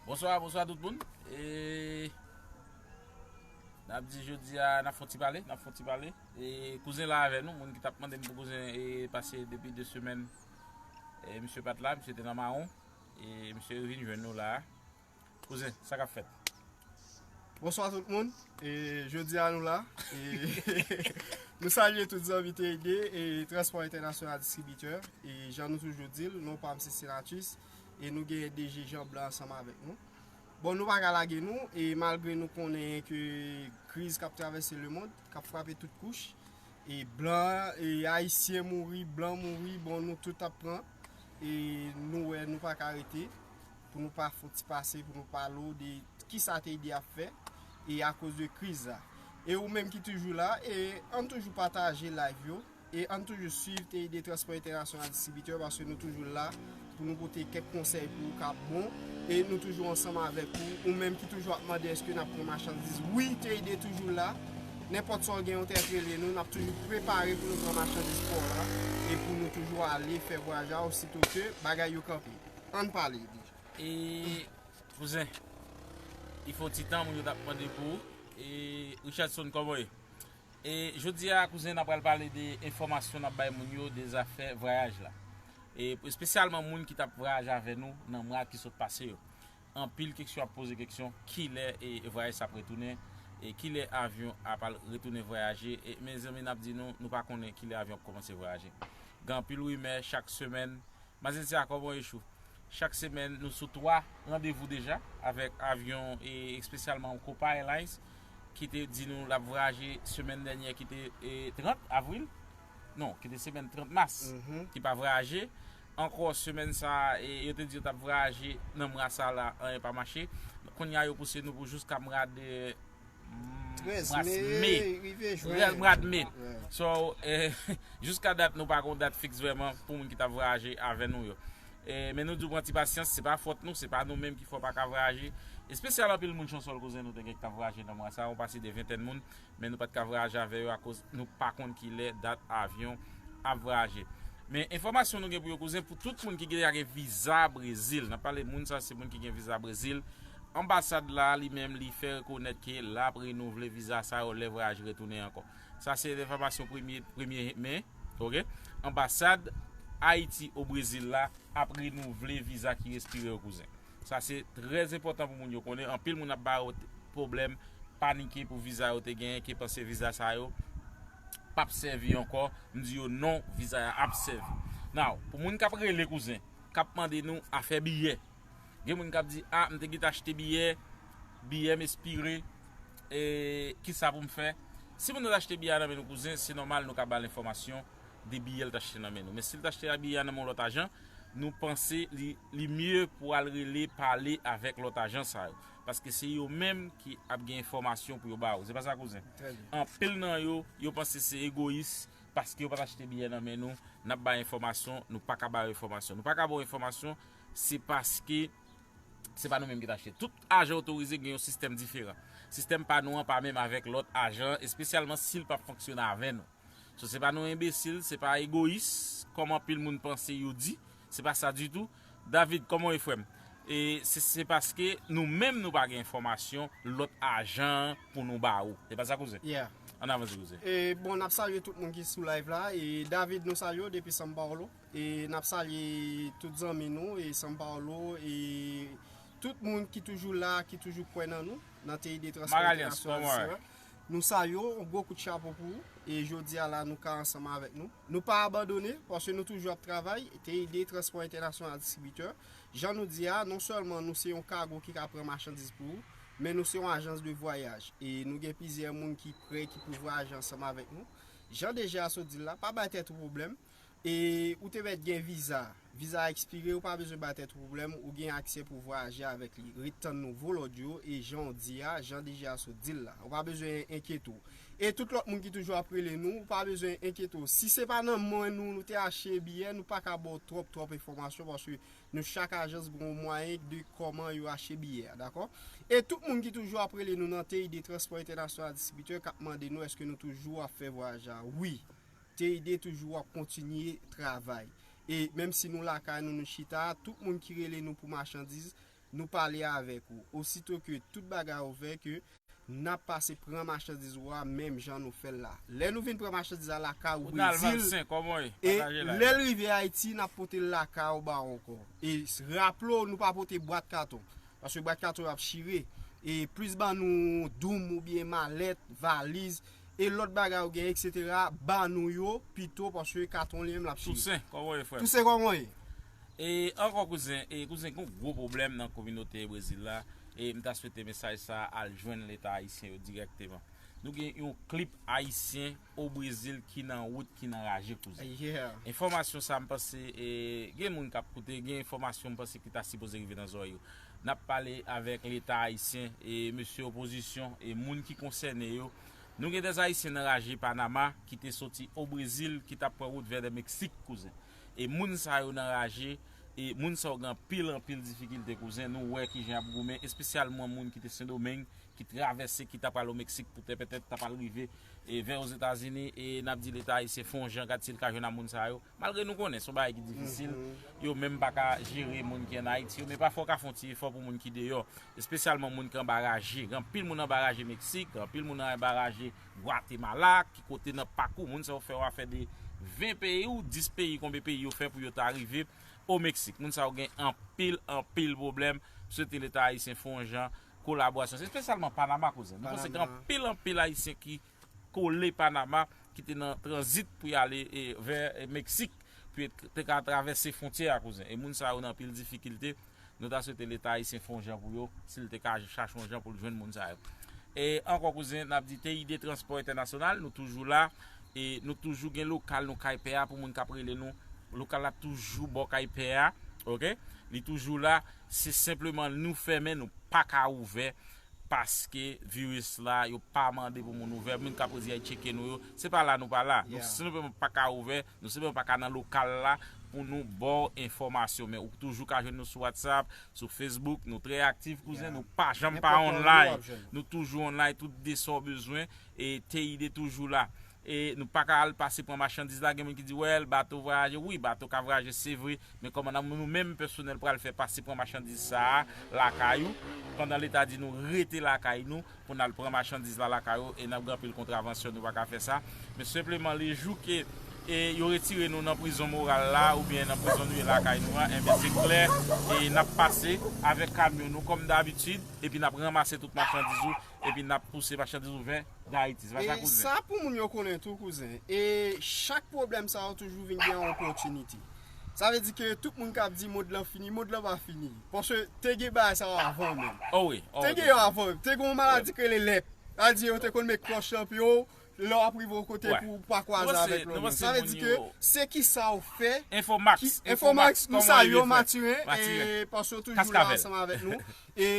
Bonswa, bonswa tout moun E N ap di jodi a, n ap fon ti pale, n ap fon ti pale E kouzen la avè nou, moun ki t ap mande m pou kouzen e pase depi 2 semèn E misye pa t la, misye te nan mawon E misye vin jwenn nou la a Koze sa kap fèt. Bonswa tout moun e jodi a nou la e nou salye tout zanmi TID e transpò entènasyonal distribitè e jan nou toujou di l non pa m se Senatus e nou gen DG Jean Blanc ansanm avèk nou bon nou pa ka lage nou e malgre nou konnen ke kriz kap travèse le mond kap frape tout kouch e blan e ayisyen mouri blan mouri bon nou tout ap pran e nou wè nou pa ka rete. pou nou pa fouti pase pou nou pale ou de kisa TD ap fè e akoz de kriz la. E ou menm ki toujou la, e ann toujou pataje live yo, e ann toujou swiv TD Transport International Distributeur paske nou toujou la pou nou pote kèk konsèy pou ou kap bon, e nou toujou ansanm avèk ou, ou menm ki toujou ap mande eske nap pran machandiz, wi TD toujou la, nenpòt sa ou gen ou trèt rele nou, nap toujou prepare pou nou pran machandiz pa w la, e pou nou toujou ale fè vwayaj a ou sitoke bagay yo kanpe. Ann pale di. E kouzen li fon ti tan moun yo tap mande pou ou e Richardson kòman ou ye? E jodi a kouzen na pral pale de enfòmasyon nap bay moun yo de zafè vwayaj la. E espesyalman moun ki tap vwayaj avè nou nan mwa ki sot pase yo. Anpil keksyon ap poze keksyon kilè e vwayaj sa ap retounen e kilè avyon ap al retounen vwayaje e mezanmi nap di nou nou pa konnen kilè avyon ap kòmanse vwayaje. Gen anpil rimè chak semèn Mazen ti akò bon echou. Chak semèn nou sou 3 randevou deja avèk avyon e espesyalman Copa Airlines ki te di nou lap vwayaje semèn dènyè ki te 30 avril non ki te semèn 30 mas ki pa vwayaje ankò semèn sa e yo te di yo tap vwayaje nan mwa sa la anyen pa mache kounya yo pouse nou pou jiska mwa de 13 me rive jwen. Rèl mwa de me. So, jiska dat nou pa gon dat fiks vreman pou moun ki ta vwayaje avè nou yo. Men nou di pran ti pasyans, se pa fòt nou, se pa nou menm ki fè w pa ka vwayaje. Espesyal anpil moun Chansòl koze nou te gen ki ta vwayaje nan mwa sa a, yon pase de ventèn moun, men nou pa t ka vwayaje avè yo akoz nou pa konn ki lè dat avyon ap vwayaje. Men enfòmasyon nou gen pou yo kouzen pou tout moun ki deja gen viza Brezil, n ap pale moun sa se moun ki gen viza Brezil, Anbasad la li menm li fè rekonèt ke lap renouvle viza sa yo lè vwayaj retounen ankò. Sa se enfòmasyon premye men. Anbasad Ayiti o Brezil la ap renouvle viza ki respire yo kouzen. Sa se trè enpòtan pou moun yo konnen. Anpil moun ap ba yo pwoblèm, panike pou viza yo te genyen ke panse viza sa yo pap sèvi ankò. M di yo non viza ya ap sèvi. Now pou moun kap rele kouzen, kap mande nou afè biyè. Gen moun kap di ah m te gentan achte biyè, biyè m espire e kisa pou m fè? Si moun nan t achte biyè a nan men nou kouzen, se nòmal nou ka ba l enfòmasyon de biyè l t achte nan men nou. Men si l t achte biyè a nan men yon lòt ajan, nou panse li mye pou al rele pale avèk lòt ajan sa yo. Paske se yo menm ki ap gen enfòmasyon pou yo ba ou. Se pa sa kouzen? Anpil nan yo, yo panse se egoyis paske yo pa t achte biyè nan men nou, n ap ba enfòmasyon, nou pa ka ba yo enfòmasyon. Nou pa ka ba ou enfòmasyon Se paske se pa nou menm ki t achte. Tout ajan otorize gen yon sistèm diferan. Sistèm pa nou an pa menm avèk lòt ajan, espesyalman si l pa p fonksyone avè nou. So se pa nou enbesil, se pa egoyis, kòm anpil moun panse yo di. Se pa sa ditou. David, kòman w ye frè m? E se se paske nou menm nou pa gen enfòmasyon lòt ajan an pou nou ba ou. Se pa sa kouzen? Yeah. An n avanse kouzen. E bon, n ap salye tout moun ki sou live la. E David nou salye w depi São Paulo. E nap salye tout zanmi nou e San Paulo e tout moun ki toujou la, ki toujou kwè nan nou, nan TID Transport International Sierra. Nou salye w, yon gwo kout chapo pou ou e jodi a la nou ka ansanm avèk nou. Nou pa abandone, paske nou toujou ap travay, TID Transport International Distributeur. Jan nou di a, non sèlman nou se yon kago ki ka pran machandiz pou ou, men nou se yon ajans de vwayaj. E nou gen plizyè moun ki pre ki pou vwayaje ansanm avèk nou. Jan DG a sot di l la, pa bay tèt ou pwoblèm. E ou te mèt gen viza. Viza a ekspire, ou pa bezwen bay tèt ou pwoblèm, ou gen aksè pou vwayaje avèk li. Ret tann nouvo lòd yo e jan ou di a, jan DG a sot di l la. Ou pa bezwen enkyete w. E tout lòt moun ki toujou ap rele nou, ou pa bezwen enkyete w. Si se pa nan men nou nou te achte biyè, nou pa ka ba w twòp twòp enfòmasyon paske nou chak ajans gen yon mwayen de kòman yo achte biyè a, dakò? E tout moun ki toujou ap rele nou nan TID Transport International Distributeur k ap mande nou èske nou toujou ap fè vwayaj la, wi. Teyde toujou wap kontinye travay e menm si nou lakay nou nou chita a tout moun ki rele nou pou machandiz nou pale avèk ou osito ke tout bagay ouvè ke nap pase pran machandiz ou a menm jan nou fèl la lè nou vin pran machandiz la lakay ou brezil e lèl rive ayiti nap potel lakay ou ba ou ankò e raple ou nou pa pote bwat katon paske bwat katon yo ap chire e plis ban nou doum oubyen malèt valiz E lot bagay ou gen etc ba nou yo pito paske katon li menm lap chire. Toussaint koman ou ye frem. Toussaint koman ou ye. E anko kouzen e kouzen gen yon gwo pwoblem nan kominote brezil la e m ta swete mesaj sa al jwenn leta ayisyen yo direkteman nou gen yon klip ayisyen o brezil ki nan wout ki nan raje kouzen enfòmasyon sa m panse e gen moun kap koute gen enfòmasyon m panse ki ta sipoze rive nan zorèy yo Nap pale avek leta ayisyen e mesye opozisyon e moun ki konsène yo. Nou gen des ayisyen nan raje Panama ki te soti o Brezil ki tap pran wout vè dè Meksik kouzen. E moun sa yo nan raje e moun sa yo gen anpil anpil difikilte kouzen nou wè kijan yap goumen espesyalman moun ki te Sendomeng ki travèse ki ta pral o Meksik pou tè pètèt ta pral rive vè ozetazini e nap di leta ayisyen fon jan gad sil ka jwenn a moun sa yo. Malgre nou konnen se yon bagay ki difisil, yo menm pa ka jere moun ki an Ayiti yo, men pafwa w ka fè yon ti efò pou moun ki deyò, espesyalman moun ki anba raje. Gen anpil moun anba raje Meksik, gen anpil moun anba raje Gwatemala, ki kote nan pakou moun sa yo fè, wa fè de 20 peyi ou 10 peyi konbe peyi yo fè pou yo ta rive o Meksik. Moun sa yo gen anpil, anpil pwoblèm. M swete Leta Ayisyen fè yon jan kolaborasyon. Se espesyalman Panama kouzen. Nou konnen gen anpil, anpil Ayisyen ki. kole Panama ki te nan tranzit pou y ale vè Meksik pou yo te ka travèse fwontyè a kouzen. E moun sa yo nan anpil difikilte. Nou ta swete leta ayisyen fon jan pou yo, si l te ka chache yon jan pou l jwenn moun sa yo. E ankò kouzen n ap di TID Transpò Entènasyonal nou toujou la e nou toujou gen lokal nou kay pè a pou moun k ap rele nou. Lokal la toujou bò kay pè a ok li toujou la se senpleman nou fèmen nou pa ka ouvè Paske virus la yo pa mande pou moun ouvè, moun kap redi a tcheke nou yo, se pa la nou pa la. Nou senpleman pa ka ouvè, nou senpleman pa ka nan lokal la pou nou baw enfòmasyon. Men ou toujou ka jwenn nou sou WhatsApp, sou Facebook, nou trè aktif kouzen, nou pa janm pa online. Nou toujou online, tout de sa w bezwen, e TID toujou la. E nou pa ka al pase pran machandiz la, gen moun ki di wèl bato vwayaje, wi bato ka vwayaje se vre, men kòman nan nou menm pèsonèl pral fè pase pran machandiz sa a lakay ou, pandan leta di nou rete lakay nou pou nal pran machandiz la lakay ou e nap gen anpil kontravansyon nou pa ka fè sa, men senpleman le jou ke e yo retire nou nan prizon moral la oubyen nan prizon nou ye lakay nou a enben se klè e nap pase avèk kamyon nou kòm dabitid epi nap ranmase tout machandiz ou epi nap pouse machandiz ou vè Dayiti se pa sa kouzen. E sa pou moun yo konnen tou kouzen e chak pwoblèm sa yo toujou vin gen yon opòtinite sa vle di ke tout moun kap di mond lan fini mond lan pa fini paske te gen bagay sa yo avan menm te gen yo avan te gen yon maladi ki rele lèp sa vle di yo te konn met kòch lan pou yo Lè wap rive yon kote pou ou pa kwaze avèk lòt moun. Sa vle di ke se kisa ou fè. Infomax Infomax nou salye w Mathurin paske ou toujou la ansanm avèk nou e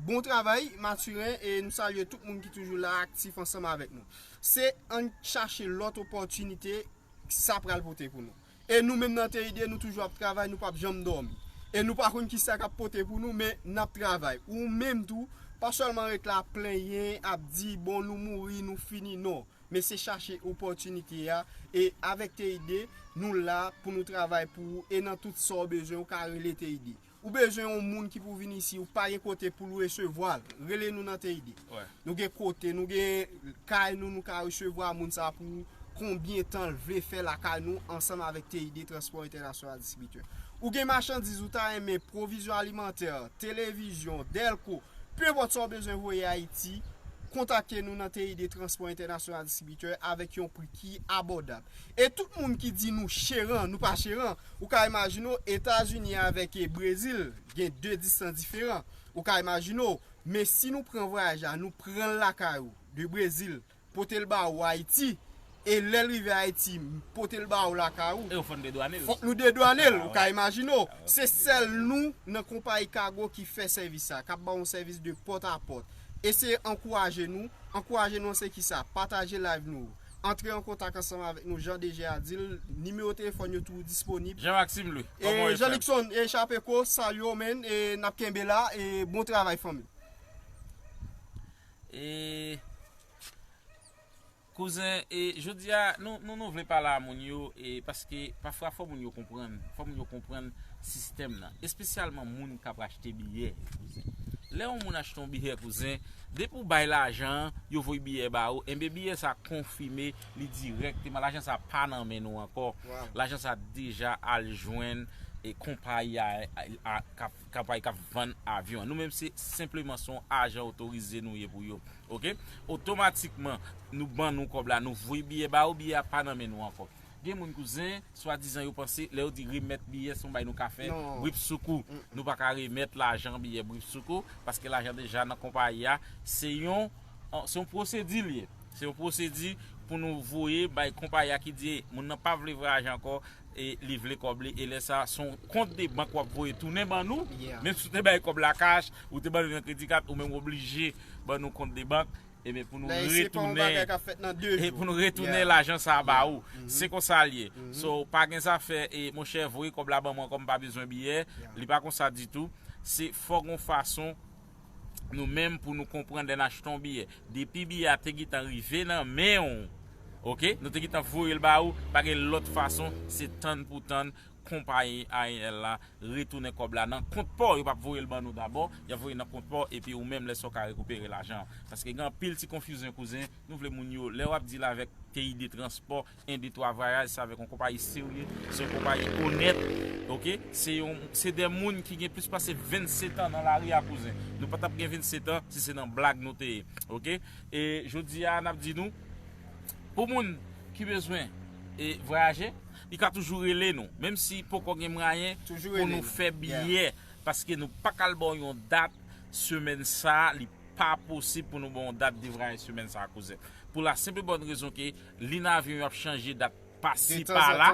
bon travay Mathurin e nou salye tout moun ki toujou la aktif ansanm avèk nou se ann chache lòt opòtinite sa pral pote pou nou. e nou menm nan TID nou toujou ap travay nou pap janm dòmi e nou pa konn kisa kap pote pou nou men nap travay ou menm tou pa sèlman ret la ap plenyen ap di bon nou mouri nou fini non men se chache opòtinite a e avèk TID nou la pou nou travay pou ou e nan tout sa ou bezwen ou ka rele TID. Ou bezwen yon moun ki pou vin isi ou pa gen kote poul resevwa l rele nou nan TID nou gen kote nou gen kay nou nou ka resevwa moun sa pou konbyen tan l vle fè lakay nou ansanm avèk TID transpò entènasyonal distribitè ou gen machandiz ou ta renmen pwovizyon alimantè televizyon dèlko peu enpòt sa ou bezwen voye ayiti kontakte nou nan TID transpò entènasyonal distribitè avèk yon pri ki abòdab e tout moun ki di nou cheran nou pa cheran. Ou ka imajine w Etazini avèk Brezil gen 2 distans diferan. Ou ka imajine w, men si nou pran vwayaj la, nou pran l lakay ou, de Brezil, pote l ba ou Ayiti, e lè l rive Ayiti, m pote l ba ou lakay ou, fòk nou dedwane l, ou ka imajine w, se sèl nou nan konpayi kago ki fè sèvis sa, k ap ba w yon sèvis de pòt a pòt. Eseye ankouraje nou, ankouraje nou an se ki sa, pataje live nou yo. Antre an kontak ansanm avèk nou jan DG a di l, nimewo telefòn yo toujou disponib. Jean Maxime Louis, kòman w ye frè m? Jean-Luckson e Chapeco, salut w man e n ap kenbe la e bon travay fanmi. E Kouzen e jodi a nou nou nou vle pale a moun yo e paske pafwa fò moun yo konprann, fò moun yo konprann sistèm nan, espesyalman moun k ap achte biyè yo kouzen. Lè yon moun achte yon biyè kouzen. Depi ou bay lajan an, yo voy biyè ba ou, enben biyè sa konfime li dirèkteman, lajan sa pa nan men nou ankò, lajan sa deja al jwenn konpayi k ap vann avyon an. Nou menm se senpleman se yon ajan otorize nou ye pou yo. Otomatikman, nou ban nou kòb la, nou voye biyè ba ou, biyè a pa nan men nou ankò. Gen moun kouzen, swadizan yo panse lè yo di remèt biyè se yon bagay nou ka fè bripsoukou. Nou pa ka remèt lajan biyè bripsoukou paske lajan deja nan konpayi a. Se yon pwosedi li ye. Se yon pwosedi pou nou voye bay konpayi a ki di moun nan pa vle vwayaje ankò e li vle kòb li. E lè sa a, se yon kont de bank w ap voye tounen ban nou. Menm si w te bay kòb la kach, ou te ban li nan kredi kat, ou menm w oblije ban nou kont de bank. Ebyen pou nou retounen e pou nou retounen lajan sa ba ou. Se konsa li ye. So pa gen zafè e monchè voye kòb la ban mwen kòm pa bezwen biyè. Li pa konsa ditou. Se fò gon fason nou menm pou nou konprann lè n achte yon biyè. Depi biyè a te gentan rive nan men ou, ok, nou te gentan voye l ba ou, pa gen lòt fason se tann pou tann konpayi aeèl la retounen kòb la nan kont paw yo pap voyel ban nou dabò yap voye nan kont paw epi ou menm lè sa ou ka rekipere lajan an paske gen anpil ti konfizyon kouzen nou vle moun yo lè wap dil avèk peyi de transpò en de twa vwayaj se avèk yon konpayi serye se yon konpayi onèt ok se yon se de moun ki gen plis pase 20 setan nan lari a kouzen nou patap gen 20 setan si se nan blag nou te ye ok e jodi a nap di nou pou moun ki bezwen e vwayaje. Li ka toujou rele nou. Menm si poko gen mwayen pou nou fè biyè. Paske nou pa ka al ba w yon dat semèn sa a. Li pa posib pou nou ba w yon dat devrayaj semèn sa a kouzen. Pou la senp e bòn rezon ke li nan avyon yo ap chanje dat pasi pala.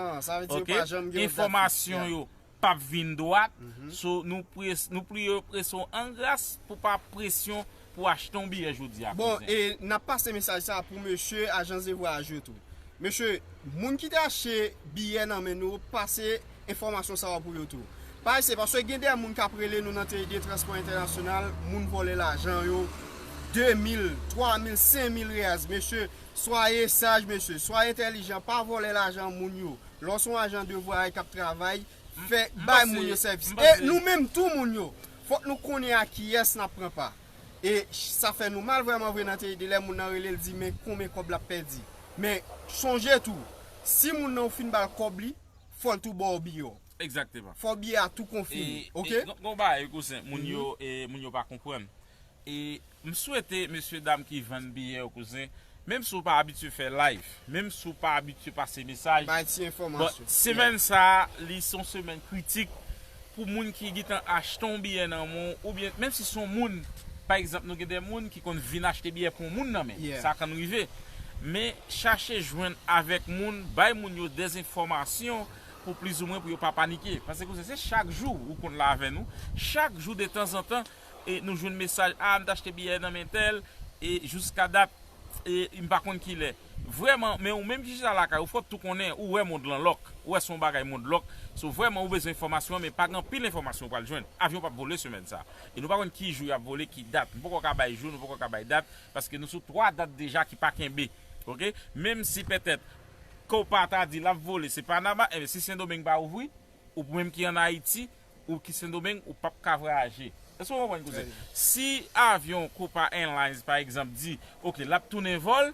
Enfòmasyon yo. pap vin dwat so nou priye yo prese w an gras pou pa presyon pou achte yon biyè jodi a kouzen. Bon e nap pase mesaj sa pou mesye ajan ze vwayaj yo tou mesye moun ki te achte biyè nan men nou pase enfòmasyon sa yo pou yo tou pa eseye paske gen de moun kap rele nou nan TID transpò entènasyonal moun vòlè lajan yo 2 mil 3 mil 5 mil reals mesye swaye saj mesye swaye entèlijan pa vòlè lajan moun yo Lè w se yon ajan de vwayay k ap travay, fè, bay moun yo sèvis. E nou menm tou moun yo, fòk nou konnen a kiyès n ap pran pa. E sa fè nou mal vrèman vre nan te ede lè moun nan rele l di men konben kòb l ap pèdi. Men, sonje tou, si moun nan ou fin ba l kòb li, fò l tou ba w biye w. Fò biye a tou konfime. Oke? Gen yon bagay wi kouzen, moun yo pa konprann. E m swete mesye dam ki vann biyè yo kouzen, menm si w pa abitye fè live, menm si w pa abitye pase mesaj, Bay ti bon enfòmasyon. semèn sa a li se yon semèn kritik pou moun ki gentan achte yon biyè nan men w oubyen menm si se yon moun pa egzanp nou gen de moun ki konn vin achte biyè pou yon moun nan men sa konn rive men chache jwenn avèk moun bay moun yo de enfòmasyon pou plizoumwen pou yo pa panike pase kouzen se chak jou ou konn la avè nou chak jou detanzantan e nou jwenn mesaj ah m t achte biyè nan men tèl e jouska dat e m pa konn kilè vrèman men ou menm ki chita lakay ou fòk tou konnen ou wè mond lan lòk ou wè se yon bagay mond lòk so vrèman ou bezwen enfòmasyon an men pa gen anpil enfòmasyon ou pral jwenn avyon pap vole semèn sa e nou pa konn ki jou y ap vole ki dat nou poko ka bay jou nou poko ka bay dat paske nou sou 3 dat deja ki pa kenbe ok menm si pètèt Copa ta di l ap vole se Panama enben si Sendomeng pa ouvri ou menm ki an Ayiti Ou ki sendomeng ou pap ka vwayaje. Eske ou konprann kouzen? Si avyon copa airlines pa egzanp di ok lap tounen vòl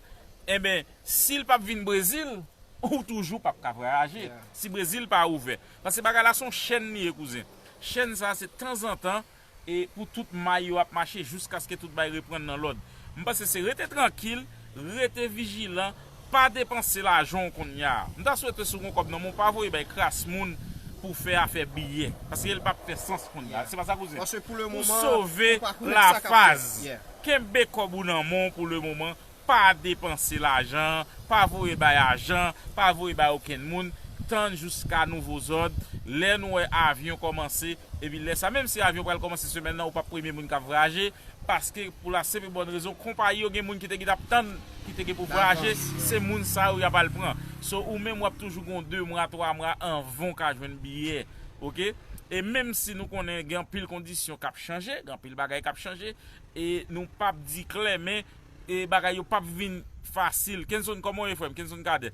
enben sil pap vin brezil ou toujou pap ka vwayaje si brezil pa ouvè. Paske bagay la son chèn li ye kouzen. Chèn sa se tanzantan e pou tout may yo ap mache jouskaske tout bay reprann nan lòd. M panse se rete trankil, rete vijilan Pa depanse lajan w konnya. M ta swete si w gon kòb nan men w pa voye bay kras moun pou w fè afè biyè. Paske l pap fè sans konnya. Se pa sa kouzen? Ou sove la faz. Kenbe kòb ou nan men w pou le moman. Pa depanse lajan an. Pa voye bay ajan. Pa voye bay okenn moun. Tann jouska nouvo zòd. Lè nou wè avyon kòmanse. Epi lè sa menm si avyon pral kòmanse semèn nan ou pap premye moun k ap vraje. Paske pou la senp e bòn rezon konpayi yo gen moun ki te gin ap tann ki te gen pou vwayaje se moun sa yo yap al pran so ou menm wap toujou gon 2 mwa 3 mwa anvan ou ka jwenn biyè ok e menm si nou konnen gen anpil kondisyon kap chanje gen anpil bagay kap chanje e nou pap di klè men e bagay yo pap vin fasil kenson kòman ou ye frèm kenson cadet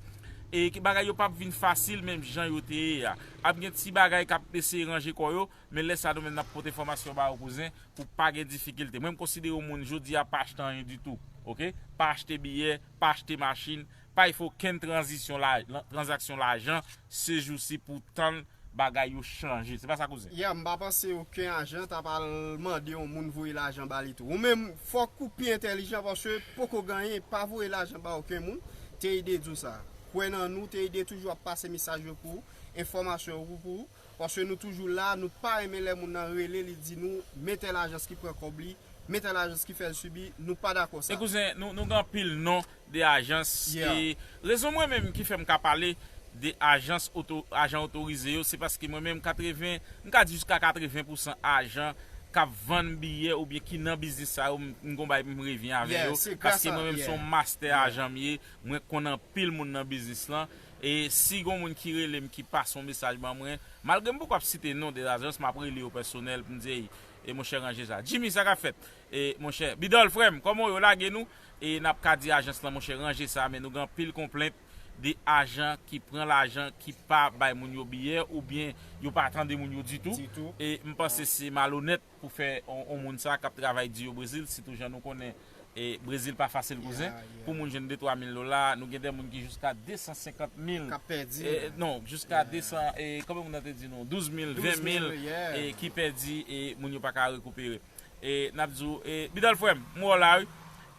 e bagay yo pap vin fasil menm jan yo te ye a ap gen ti bagay kap eseye ranje kò yo Men lè sa nou menm nap pot enfòmasyon ba ou kouzen pou pa gen difikilte. Mwen m konsidere w moun jodi a pa achte anyen ditou ok. Pa achte biyè, pa achte machin, pa y fè okenn tranzisyon tranzaksyon lajan se jousi pou w tann bagay yo chanje. Se pa sa kouzen? Yeah, m pa panse oken ajan t ap al mande yon moun voye lajan ba li tou. Ou menm fòk ou pi entèlijan paske poko ganyen pa voye lajan ba oken moun. TID di w sa. Kwè nan nou, TID toujou ap pase mesaj yo pou ou, enfòmasyon yo pou ou. Paske nou toujou la, nou pa renmen lè moun nan rele li di nou men tèl ajans ki pran kòb li, men tèl ajans ki fèl sibi, nou pa dakò sa. E kouzen, nou gen anpil non de ajans e rezon mwen menm ki fèm ka pale de ajans oto, ajan otorize yo se paske mwen menm 80, m ka di jiska 80 pousan ajan kap vann biyè oubyen ki nan biznis sa yo m gon bagay pou m revyen avè yo paske mwen menm se yon mastè ajan m ye, mwen konn anpil moun nan biznis lan. E si gon moun ki rele m ki pase yon mesaj ban mwen, malgre m poko ap site non de ajans m ap rele yo pèsonèl pou m di ey e monchè ranje sa. Jimmy sa k ap fèt e monchè? Bidòl frè m kòman w yo lage nou e n ap ka di ajans lan monchè ranje sa men nou gen anpil konplent de ajan ki pran lajan ki pa bay moun yo biyè oubyen yo pa tande moun yo ditou e m panse se malonèt pou fè yon moun sa kap travay di yo brezil sitou jan nou konnen brezil pa fasil kouzen pou moun jwenn de twa mil dola nou gen de moun ki jiska de san senkant mil kap pèdi non jiska de san e konbyen moun nan te di nou douz mil ven mil e ki pèdi e moun yo paka rekupere e nap di ou e bidòl frèm m wè w la wi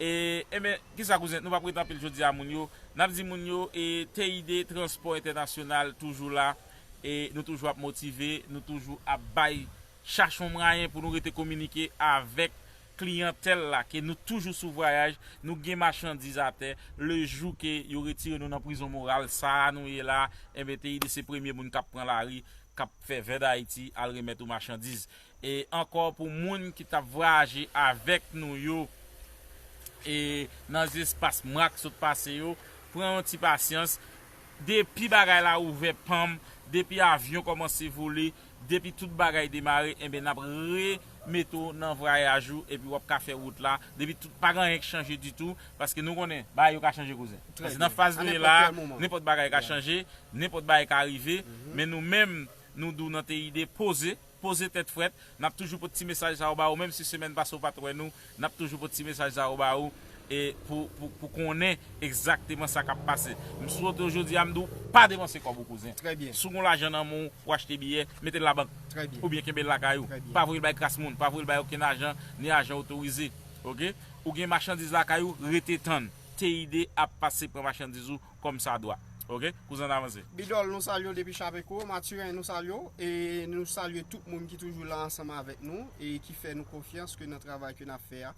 e enben kisa kouzen nou pap rete anpil jodi a moun yo nap di moun yo e TID transpò entènasyonal toujou la e nou toujou ap motive nou toujou ap bay. Chache yon mwayen pou nou rete kominike avèk kliyantèl la ke nou toujou sou vwayaj, nou gen machandiz atè, le jou ke yo retire nou nan prizon moral sa a nou ye la, enben TID se premye moun kap pran lari, kap fè vè Dayiti al remèt ou machandiz. E ankò pou moun ki tap vwayaje avèk nou yo e nan zespas mwa k sot pase yo, pran yon ti pasyans, depi bagay la ouvè pam, depi avyon kòmanse vole, Depi tout bagay demare enben nap re mete w nan vrayaj ou epi wap ka fè wout la depi tout pa gen anyen k chanje ditou paske nou konnen bagay yo ka chanje kouzen paske nan faz nou ye la a nenpòt bagay ka chanje nenpòt bagay ka rive men nou menm nou dou nan TID poze poze tèt frèt nap toujou pot ti mesaj sa yo ba ou menm si semèn pase ou pat wè nou Nap toujou pot ti mesaj sa yo ba ou e pou konnen egzakteman sa kap pase. M swete w jodi a m di w pa depanse kòb ou kouzen. Si w gon lajan nan men w, ou achte biyè, mete l labank. Oubyen kenbe l lakay ou. Pa voye l bay kras moun, pa voye l bay okenn ajan, ni ajan otorize. Ok. Ou gen machandiz lakay ou, rete tann. TID ap pase pran machandiz ou. kòm sa dwa ok kouzen an avanse. Bidòl nou salye w depi chapeco. Mathurin nou salye w e nou salye tout moun ki toujou la ansanm avèk nou e ki fè nou konfyans ke nan travay ke nap fè a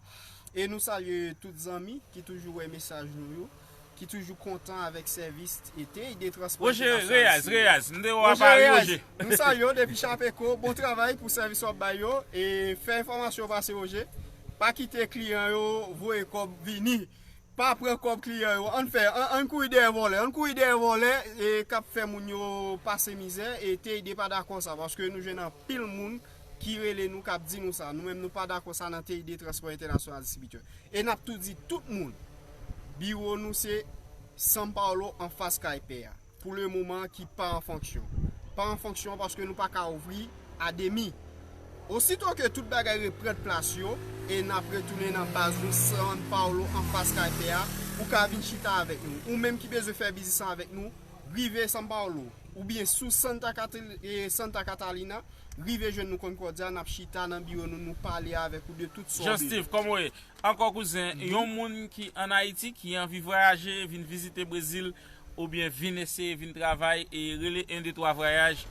e nou salye tout zanmi ki toujou wè mesaj nou yo ki toujou kontan avèk sèvis e tey de transpò entènasyonal siye. Roger Reyes Reyes m te wè w a Paris Roger. Nou salye w depi chapeco bon travay pou sèvis wap bay yo e fè enfòmasyon yo pase Roger pa kite kliyan yo voye kòb vini Pa pran kòb kliyan yo ann fè ann kouri dèyè vòlè ann kouri dèyè vòlè kap fè moun yo pase mizè e TID pa dakò sa paske nou jwenn anpil moun ki rele nou kap di nou sa nou menm nou pa dakò sa nan TID Transpò Entènasyonal Distribitè e nap tou di tout moun biwo nou se San Paolo anfas kay pè a. pou le moman ki pa an fonksyon. Pa an fonksyon paske nou pa ka ouvri a demi. Osito ke tout bagay reprent plas yo e n ap retounen nan baz nou San Paulo an fas kay pè a, ou ka vin chita avèk nou. Ou menm ki bezwen fè biznis avèk nou, rive San Paulo. Oubyen sou Santa Catalina, rive jwenn nou Concordia, n ap chita nan biwo nou, nou pale avèk ou de tout sa w bezwen. Jean Steve, kòman ou ye? Ankò kouzen, yon moun ki an Ayiti ki anvi vwayaje vin vizite Brezil oubyen vin eseye vin travay e rele 1 2 3 vwayaj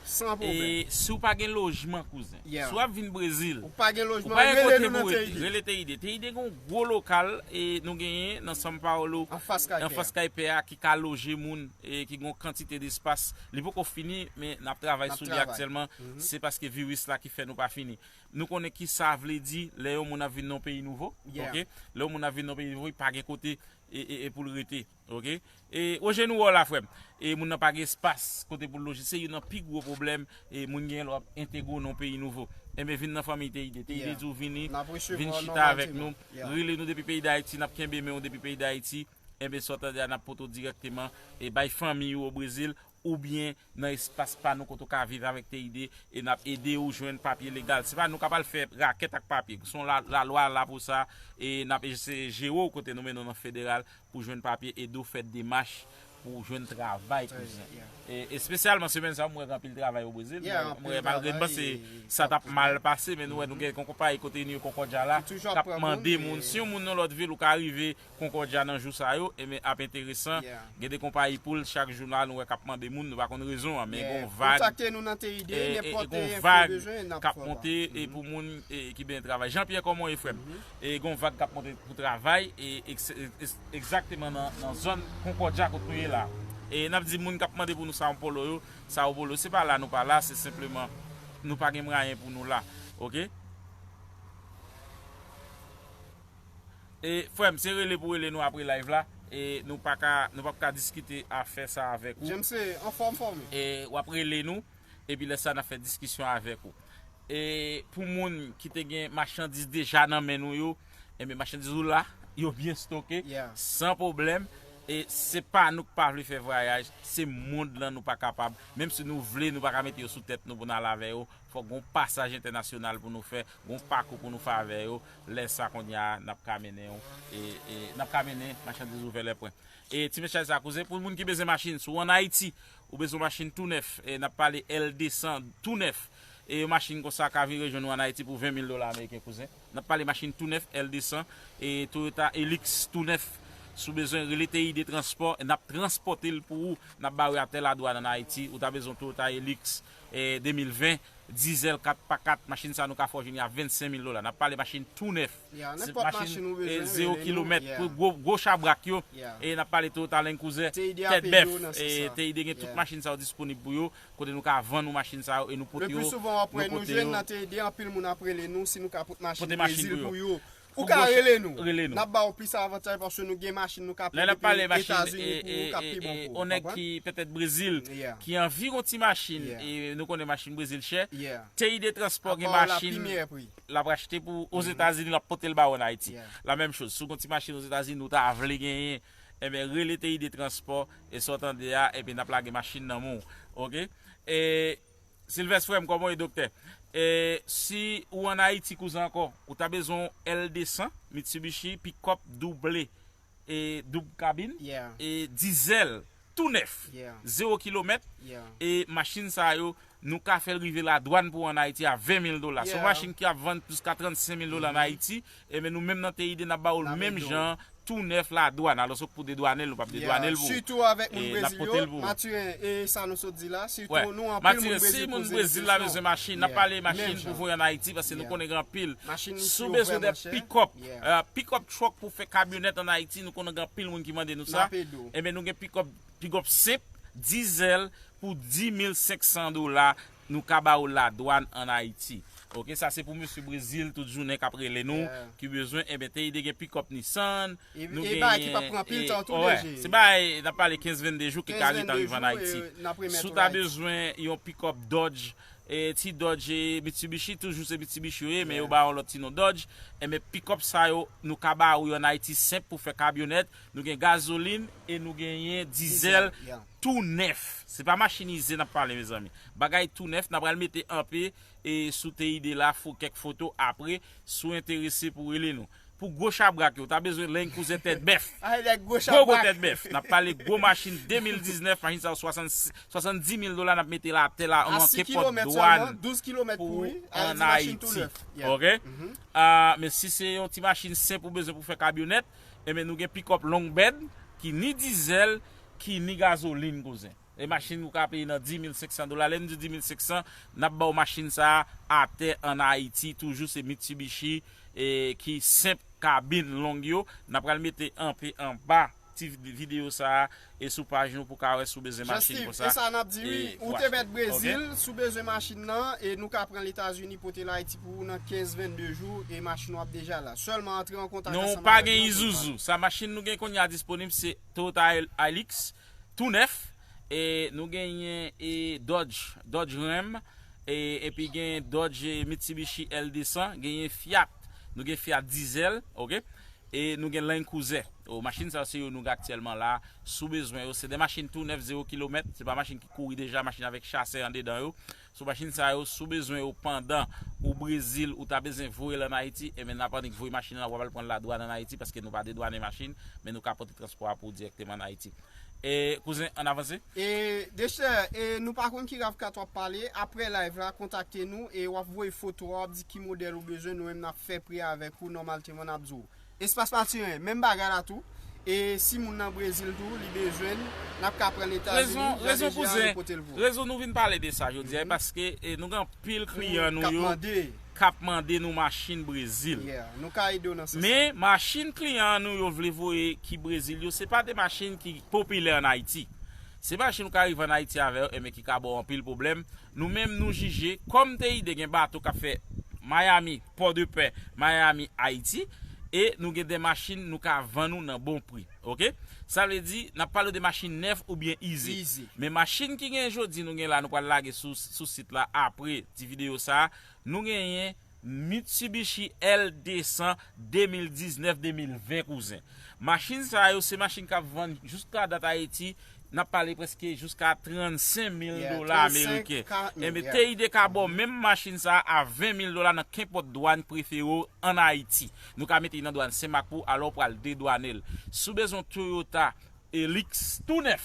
e si w pa gen lojman kouzen si w ap vin Brezil ou pa gen yon kote pou rete rele TID TID gen yon gwo lokal e nou genyen nan São Paulo anfas kay pè a ki ka loje moun e ki gen yon kantite de espas li poko fini men n ap travay sou li aktyèlman se paske viris la ki fè nou pa fini. Nou konnen ki sa vle di lè yon moun ap vin nan yon peyi nouvo. Ok. Lè yon moun ap vin nan yon peyi nouvo, li pa gen kote pou l rete. Ok. E Roger nou wè w la frè m. E moun nan pa gen espas kote pou l loje. Se youn nan pi gwo pwoblèm moun genyen lè w ap entegre w nan yon peyi nouvo. Enben vin nan fanmiy TID. TID di w vini, vin chita avèk nou. Rele nou depi peyi Dayiti, n ap kenbe men w depi peyi Dayiti. Enben sa w tande a n ap pote w dirèkteman e bay fanmiy ou o Brezil. oubyen nan espas pa nou kote ou ka viv avèk TID e n ap ede ou jwenn papye legal. Se pa nou k ap al fè rakèt ak papye. Se yon lalwa la pou sa e n ap eseye jere ou kote nou mennen w nan federal pou jwenn papye, ede w fè demach pou w jwenn travay kouzen. Espesyalman semèn sa yo m wè gen anpil travay o Brezil. M wè malgre m panse sa t ap mal pase men nou wè nou gen yon konpayi kote New Concordia la k ap mande moun. Si yon moun nan lòt vil ou ka rive Concordia nan jou sa yo enben ap enteresan gen de konpayi poul chak jou la nou wè kap mande moun nou pa konn rezon an men gon vag gon vag kap monte pou moun ki benyen travay Jean Pierre kòman w ye frèm gon vag kap monte pou travay egzakteman nan zòn Concordia kot nou ye la nap di moun kap mande pou nou Sao Polo yo Sao Polo se pa la nou pa la se senpleman nou pa gen mwayen pou nou la ok. E frèm se rele pou rele nou apre live la e nou paka nou pap ka diskite afè sa avèk ou. James anfòm frè m. E wap rele nou epi lè sa nap fè diskisyon avèk ou. E pou moun ki te gen machandiz deja nan men nou yo enben machandiz ou la yo byen stoke san pwoblèm e se pa nou k pa vle fè vwayaj se mond lan nou pa kapab menm si nou vle nou paka mete yo sou tèt nou pou n al avè yo fòk gon pasaj entènasyonal pou nou fè gon pakou pou nou fè avè yo Lè sa konnya n ap ka mennen yon n ap ka mennen machandiz ouvè lèpwen e ti mesaj sa koze pou moun ki bezwen machin si w an ayiti ou bezwen yon machin tou nèf n ap pale L 200 tou nèf e yon machin konsa ka vin rejwenn ou an ayiti pou 20 mil dola ameriken kouzen n ap pale machin tou nèf L 200 e toyota elix tou nèf si w bezwen rele TID transpò n ap transpòte l pou ou n ap bare a tè ladwann an ayiti ou ta bezwen yon toyota elix 2020 Diesel 4 pa 4 machin sa nou ka fè w jwenn li a 25 mil dola nap pale machin tou nèf se pa machin 0 kilomèt pou gwo chabrak yo e nap pale Toyota Land Cruiser tèt bèf TID gen tout machin sa yo disponib pou yo kote nou ka vann ou machin sa yo e nou pote yo nan kote yo pote machin pou yo Ou ka rele nou, n ap ba ou plis avantay paske nou gen machin nou ka pran depi Etazini pou ou k ap pi bon pou ou. On nèg ki petèt Brezil ki anvi yon ti machin e nou konnen machin Brezil chè, TI de transpò gen machin l ap rachte pou ou Ozetazini l ap pote l ba ou an Ayiti. La menm choz, si w gen yon ti machin Ozetazini ou ta vle genyen, enben rele TI de transpò e sa w tande a epi n ap lage machin nan men w. Ok. E. Silvès frèm kòman ou ye doktè e si ou an ayiti kouzen ankò ou ta bezwen yon L 200 Mitsubishi pickup double e doub kabin e dizèl tou nèf zewo kilomèt e machin sa yo nou ka fèl rive ladwann pou an ayiti a 20 mil dola son machin ki ap vann jiska 35 mil dola an ayiti Enben nou menm nan TID nap ba ou l menm jan tou nèf la dwàn alos ok pou dedwane l nou pap dedwane l pou ou nap pote l pou ou. Matirin si moun brezil la bezwen machin nap pale machin pou voye an ayiti paske nou konnen gen anpil si w bezwen de pikòp pikòp truck pou fè kamyonèt an ayiti nou konnen gen anpil moun ki mande nou sa enben nou gen pikòp pikòp senp dizèl pou 10500 dola Nou ka ba ou la dwan an Ayiti. Ok sa se pou mesye brezil tout jounen kap rele nou ki bezwen enben teide gen pickup nissan nou gen e bagay ki pap pran anpil tan tou dg se bagay nap pale 15 22 jou ki ka ret anrive an ayiti sou ta bezwen yon pickup dodge e ti dodge e mitsubishi toujou se mitsubishi yo ye men yo ba yon lòt ti non dodge enben pickup sa yo nou ka ba ou yo an ayiti senp pou fè kabyonèt nou gen gazoline e nou genyen dizèl tou nèf se pa machinize nap pale mezanmi bagay tou nèf napral mete anpe sou TID la fo kèk foto apre si w enterese pou rele nou pou gwo chabrak yo ta bezwen leny kouzen tèt bèf gwo gwo tèt bèf nap pale gwo machin 2019 machin sa yo 70 mil dola nap mete l atè la an manke kòd dwàn pou ou an Ayiti ok men si se yon ti machin senp ou bezwen pou fè kabyonèt Enben nou gen pikòp long bed ki ni dizèl ki ni gazolin kouzen. E machin ou ka peye nan 10500 dola. Lè nou di 10500, nap baw machin sa a atè an Ayiti toujou se Mitsubishi e ki senp kabin long yo. Nap pral mete anpe anba ti video sa a E sou paj nou pou ka wè si w bezwen machin Jean-Steve, konsa e sa nap di wi, e ou pou te met achte. Brezil, Ok. si w bezwen machin nan, e nou ka pran l Etazini pote l Ayiti pou ou nan 15 22 jou e machin ou ap deja la. Sèlman antre an kontak Nou ansanm pa avèk gen mwen pou nou pale. Isuzu, sa machin nou gen kounye a disponib se Toyota Hilux tou nèf, e nou genyen e Dodge, Dodge Ram, e epi gen Dodge e Mitsubishi L 200, genyen Fiat, nou gen Fiat Diesel, ok. E nou gen Land Cruiser. Oh machin sa yo se yo nou gen aktyèlman la si w bezwen yo. Se de machin tou nèf zewo kilomèt. Se pa machin ki kouri deja, machin avèk chasè andedan yo. So machin sa yo si w bezwen yo pandan ou Brezil ou ta bezwen voye l an Ayiti enben n ap annik voye machin lan w ap al pran l ladwàn an Ayiti paske nou pa dedwane machin men nou ka pote transpò a pou w dirèkteman an Ayiti. E kouzen ann avanse. E dechè e nou pa konn ki ravkat wap pale aprè live la kontakte nou e wap voye foto a wap di ki modèl ou bezwen nou menm nap fè pri avèk ou nòmalteman nap di w espas matiren menm bagay la tou e si moun nan brezil tou li bezwen l nap ka pran l etazini jan de jan nou pote l pou ou. Rezon nou vin pale de sa jodi a e paske nou gen anpil kliyan nou yo kap mande nou machin brezil men machin kliyan nou yo vle voye ki brezil yo se pa de machin ki popilè an ayiti se machin ou ka rive an ayiti avè yo enben ki ka baw anpil pwoblèm nou menm nou jije kòm teide gen bato kap fè mayami pòdepè mayami ayiti e nou gen de machin nou ka vann ou nan bon pri. Ok sa vle di nap pale de machin nèf oubyen ize men machin ki gen jodi nou gen la nou pral lage sou sit la apre ti videyo sa nou genyen Mitsubishi L 200 2019 2020 kouzen machin sa yo se machin kap vann jiska dat ayiti nap pale preske jiska 35 mil dola ameriken enben TID ka baw menm machin sa a 20 mil dola nan kenpòt dwàn prefere w an ayiti. Nou ka mete li nan dwan Senmak pou alè w pral dedwane l. Si w bezwen yon Toyota Hilux tou nèf,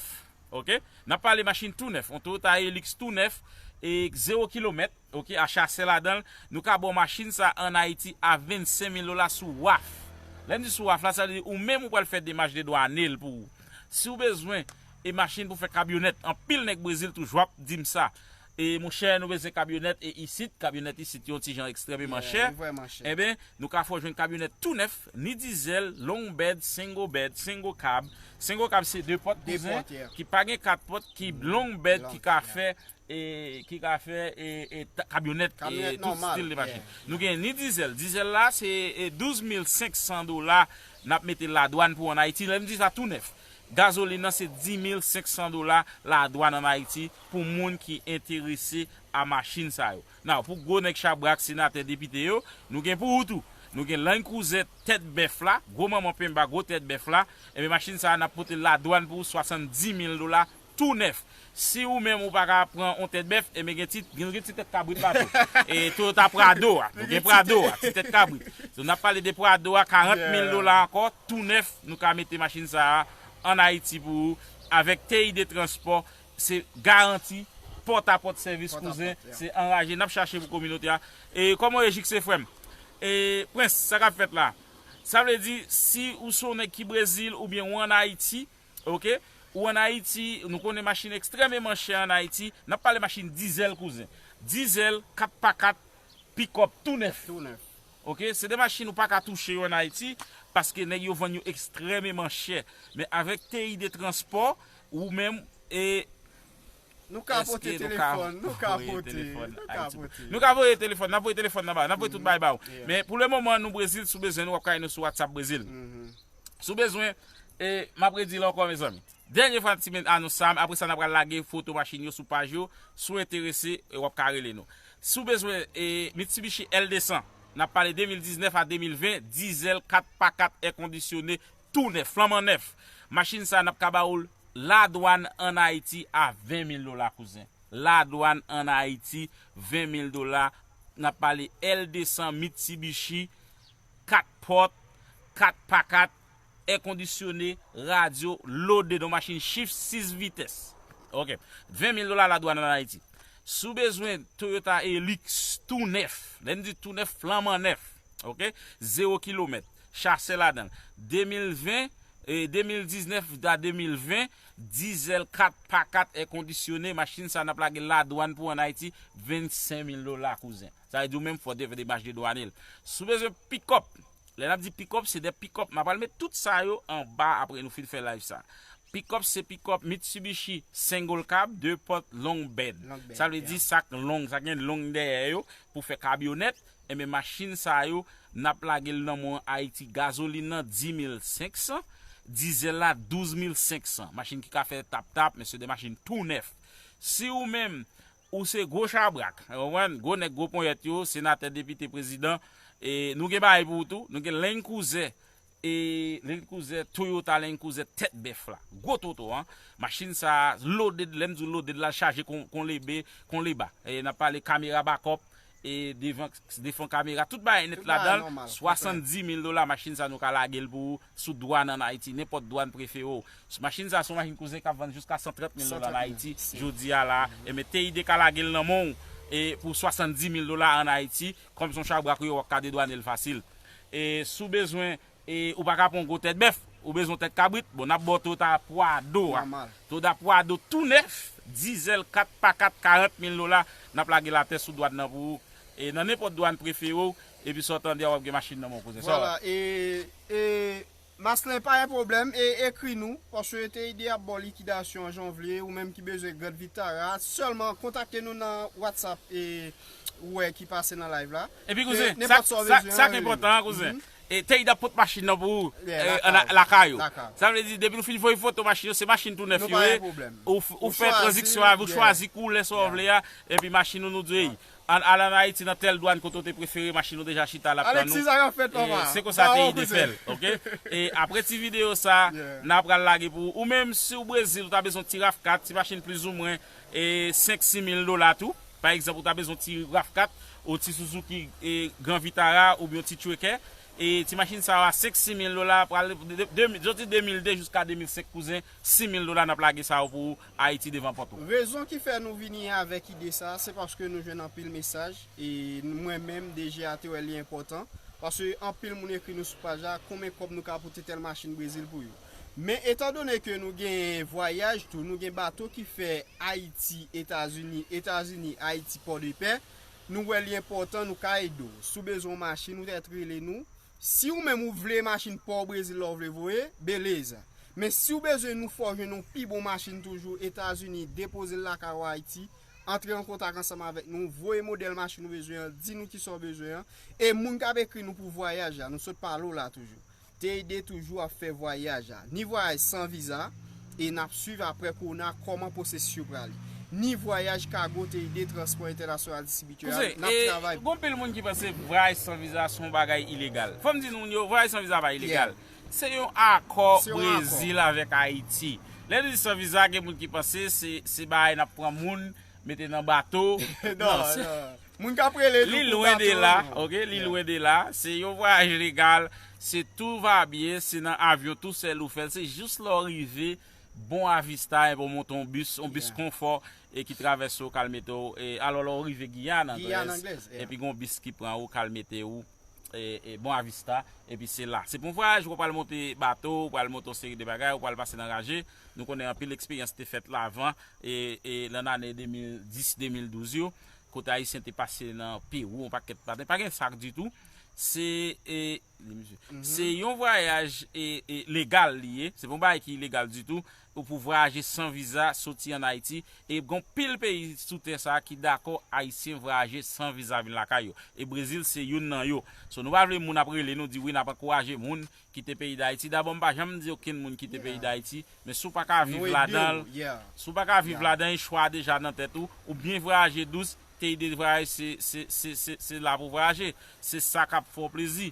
ok, n ap pale machin tou nèf, yon Toyota Hilux tou nèf, zewo kilomèt, ok, a chasè ladan l, nou ka ba w machin sa a an Ayiti a 25 mil dola sou waf. Lè m di sou waf la, sa vle di ou menm ou pral fè demach dedwane l pou ou. Si w bezwen e machin pou fè kabyonèt, anpil nèg Brezil toujou ap di m sa. E monchè nou bezwen kabyonèt e isit kabyonèt isit yo yon ti jan ekstrèmeman chè enben nou ka fè w jwenn kabyonèt tou nèf ni dizèl long bed single bed single cab single cab se 2 pòt kouzen ki pa gen 4 pòt ki long bed ki ka fè e ki ka fè e e kabyonèt e tout stil de machin nou gen ni dizèl dizèl la se 12500 dola n ap mete ladwann pou an ayiti lè m di sa tou nèf gazolin nan se 10500 dola ladwann an ayiti pou moun ki enterese a machin sa yo. Now, pou gwo nèg chabrak, senatè, depite yo, nou gen pou ou tou. Nou gen Land Cruiser tèt bèf la, gwo manman penmba, gwo tèt bèf la. Enben machin sa a n ap pote l ladwann pou 70 mil dola tou nèf. Si ou menm ou pa ka pran yon tèt bèf, enben gen ti, nou gen ti tèt kabrit la tou. E Toyota Prado a, nou gen Prado a, ti tèt kabrit. So n ap pale de Prado a, 40 mil dola ankò, tou nèf, nou ka mete machin sa a an Ayiti pou ou, avèk TID Transport Se garanti pòt a pòt sèvis kouzen se anraje nap chache pou kominote a e kòman ou ye jikse frèm e prince sa kap fèt la sa vle di si ou son nèg ki brezil oubyen ou an ayiti ok ou an ayiti nou konnen machin ekstrèmeman chè an ayiti nap pale machin dizèl kouzen dizèl 4 pa 4 pikòp tou nèf ok se de machin ou paka touche yo an ayiti paske nèg yo vann yo ekstrèmeman chè men avèk TI de transpò Ou menm e Nou ka pote telefòn Nou ka pote Nou ka pote Nou ka voye telefòn Nap voye telefòn nan ba ou Nap voye tout bagay ba ou Men pou le moman nou Brezil Si w bezwen nou wap ka jwenn nou sou Whatsapp Brezil Si w bezwen e Map redi l ankò mezanmi Dènye fwa ti men anons sa Apre sa n apral lage foto machin yo sou paj yo Si w enterese w ap ka rele nou Si w bezwen e Mitsubishi L200 Nap pale 2019 a 2020 Dizèl 4 pa 4 èkondisyone Tou nèf, flanman nèf. Machin sa nap ka ba oul la dwan an Ayiti a 20 mil dola kouzen. La dwan an Ayiti 20 mil dola nap pale L 200 Mitsubishi 4 pòt, 4 pa 4, è kondisyone, radyo, lode don machin chif 6 vitès. Ok. 20 mil dola la dwan an Ayiti. Si w bezwen Toyota Hilux tou nèf, lè n di tou nèf flanman nèf. ok zero kilomèt chase ladanl 2020 e 2019 a 2020 diesel 4 pa 4 è kondisyone machin sa nap lagel ladwann pou an ayiti 25 mil dola kouzen sa vle di ou menm fòw te fè demach de dwanel si w bezwen pikòp lè nap di pikòp se de pikòp ma pral met tout sa yo anba apre nou fin fè live sa pikòp se pikòp mitsibishi single cab 2 pòt long bed sa vle di sak long sa gen long dèyè yo pou fè kabyonèt. Enben machin sa yo nap lage l nan mwen an Ayiti gazolin nan 10500, dizèl la 12500 machin ki ka fè tap tap men se de machin tou nèf si ou menm ou se gwo chabrak ou konprann gwo nèg gwo ponyèt yo senatè depite prezidan nou gen bagay pou ou tou nou gen lennkouze E Land Cruiser Toyota Land Cruiser tèt bèf la. Gwo toto an. Machin sa a loaded, lè m di w loaded la l chaje kon lebe, kon leba. N ap pale kamera bakòp, e devan defon kamera, tout bagay nèt ladan l. 70 mil dola machin sa a nou ka lage l pou ou sou dwàn ann Ayiti, nenpòt dwàn prefere w. Machin sa a se yon machin cruiser k ap vann jiska 130 mil dola ann Ayiti jodi a la a. Enben TID ka lage l nan men w pou 70 mil dola ann Ayiti. Kòm son chabrak ou ye wap ka dedwanel fasil e sou bezwen e ou paka pran yon gwo tèt bèf ou bezwen yon tèt kabrit bon nap baw toyota pwado a toyota pwado tou nèf dizèl 4 pa 4 40 mil dola nap lagel atè sou dwàn nan pou ou e nan nenpòt dwàn preferew epi sa w tande a wap gen machin nan menw kouzen sa w. Vwala e e Maslin pa gen pwoblèm e ekri nou paske TID ap baw likidasyon an janvye ou menm ki bezwen grand vitara sèlman kontakte nou nan watsap e ou wè ki pase nan live la Epi kouzen nenpòt sa ou bezwen an sak enpòtan an kouzen TID ap pot machin nan pou ou lakay ou sa vle di depiw fin voye foto machin yo se machin tou nèf yo ye ou fè tranziksyon avèl ou chwazi koulè sa ou vle a epi machin ou nou di ey Ann al an Ayiti nan tèl dwann kote w te prefere machin ou deja chita la ap tann ou e se konsa te ide fè l ok e apre ti videyo sa n a pral lage pou ou menm si w Brezil ou ta bezwen ti rav 4 ti machin plizoumwen 5 si mil dola tou pa egzanp ou ta bezwen ti rav 4 ou ti Suzuki Grand Vitara oubyen yon ti Trucker e ti machin sa yo a 5 si mil dola pral de soti 2002 jiska 2005 kouzen si mil dola n ap lage sa yo pou ou. Ayiti devan pòt ou. Rezon ki fè nou vini avèk ide sa a, se paske nou jwenn anpil mesaj, e mwen menm DGA te wè li enpòtan, paske anpil moun ekri nou sou paj la, konbyen kòb nou ka pote tèl machin Brezil pou yo. Men etan done ke nou gen vwayaj tou, nou gen bato ki fè Ayiti, Etazini, Etazini, Ayiti, Pòdepè, nou wè li enpòtan nou ka ede w. Si w bezwen yon machin, ou trèt rele nou. Si ou menm ou vle machin paw Brezil la ou vle voye, beleza. Men si ou bezwen nou fè w jwenn yon pi bon machin toujou, Etazini, depoze l lakay ou Ayiti, antre an kontak ansanm avèk nou, voye modèl machin ou bezwen an, di nou kisa w bezwen an, e moun kap ekri nou pou vwayaj la, nou sot pale w la toujou. TID toujou ap fè vwayaj la. Ni vwayaj san viza, E nap swiv apre kowona koman pwosesis yo prale. Ni vwayaj kago te ede transpò entènasyonal distribitè a, nap travay pou. Gon pil moun ki panse vwayaj san viza son bagay ilegal. Fòm di moun yo vwayaj san viza pa ilegal. Se yon akò Brezil avèk Ayiti. Lè nou di san viza gen moun ki panse se bagay nap pran moun. Mete nan bato. Non, moun kap rele li pou bato. Li lwen de la, ok, li lwen de la. Se yon vwayaj legal, se tou va byen, se nan avyon tou sèl ou fèl. Se jis lè ou rive Bon Avista epi ou monte yon bis, yon bis konfò e ki travèse ou kal mete ou, alò lè ou rive Giyàn, Anglèz, epi gen yon bis ki pran ou kal mete ou. e Bon Avista epi se la se pou yon vwayaj wap pral monte bato ou pral monte yon seri de bagay ou pral pase nan raje nou konnen anpil eksperyans te fèt la avan e lan ane 2010 2012 yo kote ayisyen te pase nan Perou yon pakèt pa pa gen sak ditou se e se yon vwayaj e legal li ye se pou yon bagay ki legal ditou Ou pou vwayaje san viza soti an Ayiti e gon pil peyi sou tè sa ki dakò Ayisyen vwayaje san viza vin lakay yo. E Brezil se youn nan yo. So nou pa vle moun ap rele nou di wi nap ankouraje moun kite peyi Dayiti. Dabò m pa janm di okenn moun kite peyi Dayiti men si w pa ka viv ladanl si w pa ka viv ladan e chwa a deja nan tèt ou ou byen vwayaje dous te ide vwayaj se se se se la pou vwayaje se sa kap fè w plezi.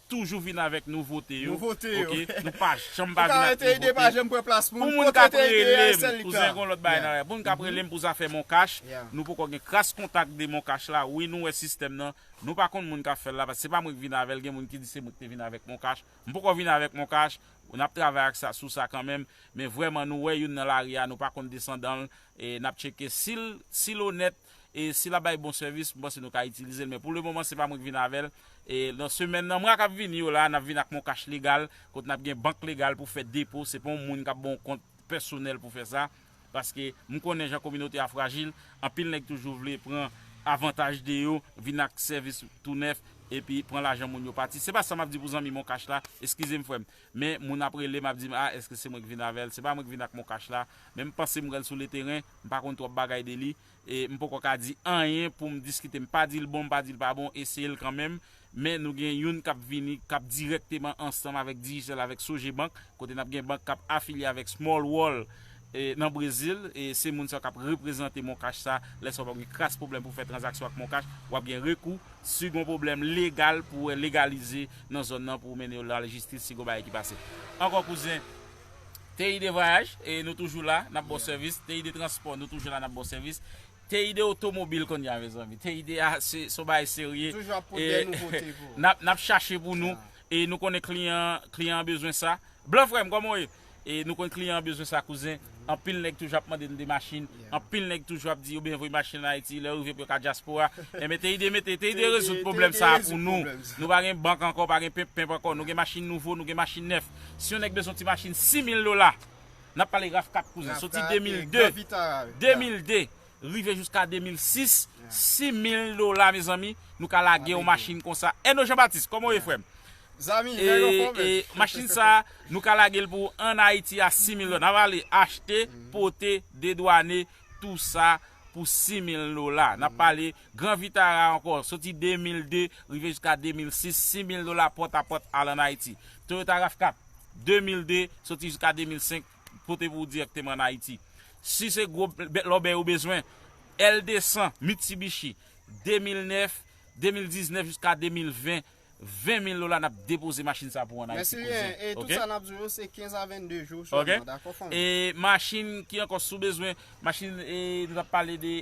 toujou vin avèk nouvote yo ok nou pa janm pa vin ak nouvote pou moun kap relem kouzen gon lòt bagay nan la pou moun kap relem pou zafè moncash nou poko gen kras kontak de moncash la wi nou wè sistèm nan nou pa konn moun kap fèl la paske se pa mwen ki vin avèl gen moun ki di se mwen ki te vin avèk moncash m poko vin avèk moncash nap travay ak sa sou sa kanmenm men vrèman nou wè youn nan lari a nou pa konn desandanl nap tcheke sil onèt. e si lap bay bon sèvis m panse nou ka itilizel men pou le moman se pa mwen ki vin avèl e nan semèn nan mwa kap vini yo la nap vin ak moncash legal kote nap gen bank legal pou fè depo se pa yon moun kap baw kont pèsonèl pou fè sa paske m konnen jan kominote a frajil anpil nèg toujou vle pran avantaj de yo vin ak sèvis tou nèf epi pran lajan moun yo pati se pa sa map di pou zanmi moncash la eskizem frèm. Men moun ap rele m ap di m a eske se mwen ki vin avè l, se pa mwen ki vin ak moncash la, men m panse m wè l sou leteren, m pa konn twòp bagay de li, e m poko ka di anyen pou m diskite, m pa di l bon m pa di l pa bon, eseye l kanmenm, men nou gen youn k ap vini k ap dirèkteman ansanm avèk Digicel avèk Sogebank, kote n ap gen bank k ap afilye avèk Small World. Nan Brezil, se moun sa yo k ap reprezante moncash sa lè sa w pa gen kras pwoblèm pou w fè tranzaksyon ak moncash, w ap gen rekou si w gen yon pwoblèm legal pou w legalize nan zòn nan pou w mennen yo lalejistis si gen yon bagay ki pase. Ankò kouzen, TI de vwayaj, nou toujou la, n ap ba w sèvis, TI de transpò, nou toujou la, n ap ba w sèvis, TI de otomobil kounye a mezanmi, TI de a se yon bagay serye, n ap chache pou nou, E nou konnen kliyan kliyan an bezwen sa. Blan frè m kòman w ye? E nou konnen kliyan an bezwen sa kouzen. Anpil nèg toujou ap mande n de machin. Anpil nèg toujou ap di yo bezwen voye machin an Ayiti. Lè yo rive pou yo ka dyaspora. Enben TID mete TID rezoud pwoblèm sa a pou nou. Nou pa gen bank ankò, pa gen penp penp ankò. Nou gen machin nouvo, nou gen machin nèf. Si yon nèg bezwen yon ti machin 6000 dola, n ap pale RAV4 kouzen, soti 2002, 2002, rive jiska 2006 6000 dola mezanmi nou ka lage yon machin konsa Eno Jean Baptiste kòman w ye frè m e machin sa nou ka lage l pou an Ayiti a 6000 dola n ap ale achte pote dedwane tou sa pou 6000 dola n ap pale gran vitara ankò soti 2002 rive jiska 2006 6000 dola pòtapòt al an Ayiti Toyota Rav4 2002 soti jiska 2005. pote pou ou dirèkteman an Ayiti. Si se gwo bèt lòbèy ou bezwen, L200, Mitsubishi, 2009, 2019 jiska 2020, 20 mil dola n ap depoze machin sa pou ou an Ayiti kouzen. Mèsi Reen, e tout sa n ap di w yo se 15 a 22 jou sèlman, dakò fanmi? E machin ki ankò si w bezwen, machin e nou t ap pale de.